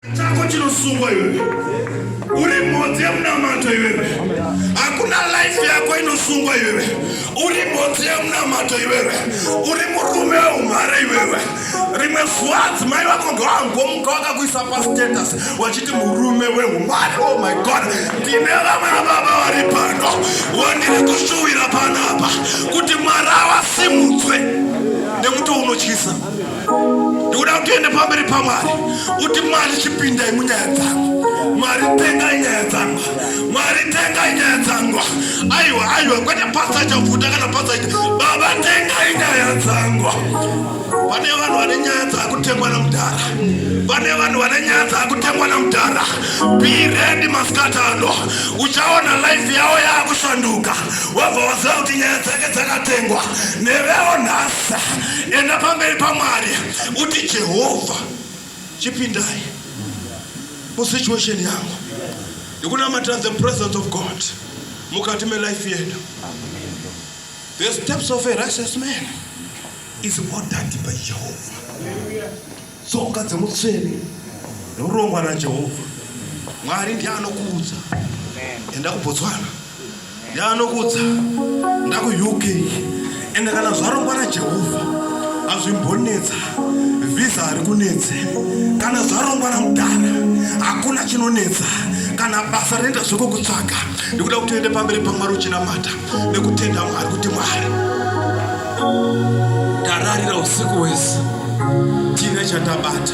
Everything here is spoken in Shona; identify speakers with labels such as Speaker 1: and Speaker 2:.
Speaker 1: chako chinosungwa iwe uri mhodzi yemunamato iwe hakuna life yako inosungwa iwewe uri mhodzi yemunamato iwewe uri murume weumhare iwewe rimwe zuva adzimai vako ngawangomuka wakakuisa pastatus wachiti murume weumhare oh my god ndine vamwe vababa vari pano wandiri kushuwira panapa kuti mwari awasimudzwe nekuti unotyisa ndikuda kuti uende pamberi pamwari uti mwari chipindai munyaya dzangu mwari tengai nyaya dzangu mwari tengai nyaya dzangu aiwa aiwa kwete pasa chavhuta kana pasa ita baba tengai nyaya dzangu pane vanhu vane nyaya dzakutengwa namudhara pane vanhu vane nyaya dzakutengwa namudhara biredi masikati ano uchaona laifi yavo yakushanduka wabva waziva kuti nyaya dzake dzakatengwa nevewo nhasa enda pamberi pamwari uti jehovha chipindai musituation yangu ndikunamatira the presence of god mukati melife yedu the steps of a righteous man is ordered by jehovha Tsoka dzemutsvene norongwa naJehovha Mwari ndiye anokuudza enda kuBotswana, ndiye anokuudza enda kuUK. Ende kana zvarongwa naJehovha hazvimbonetsa, vhiza hari kunetse. Kana zvarongwa namudhara hakuna chinonetsa, kana basa rinoita zvekukutsvaga, ndikuda kuti uende pamberi paMwari uchinamata. nekutenda Mwari kuti Mwari tararira usiku wese tiine chatabata.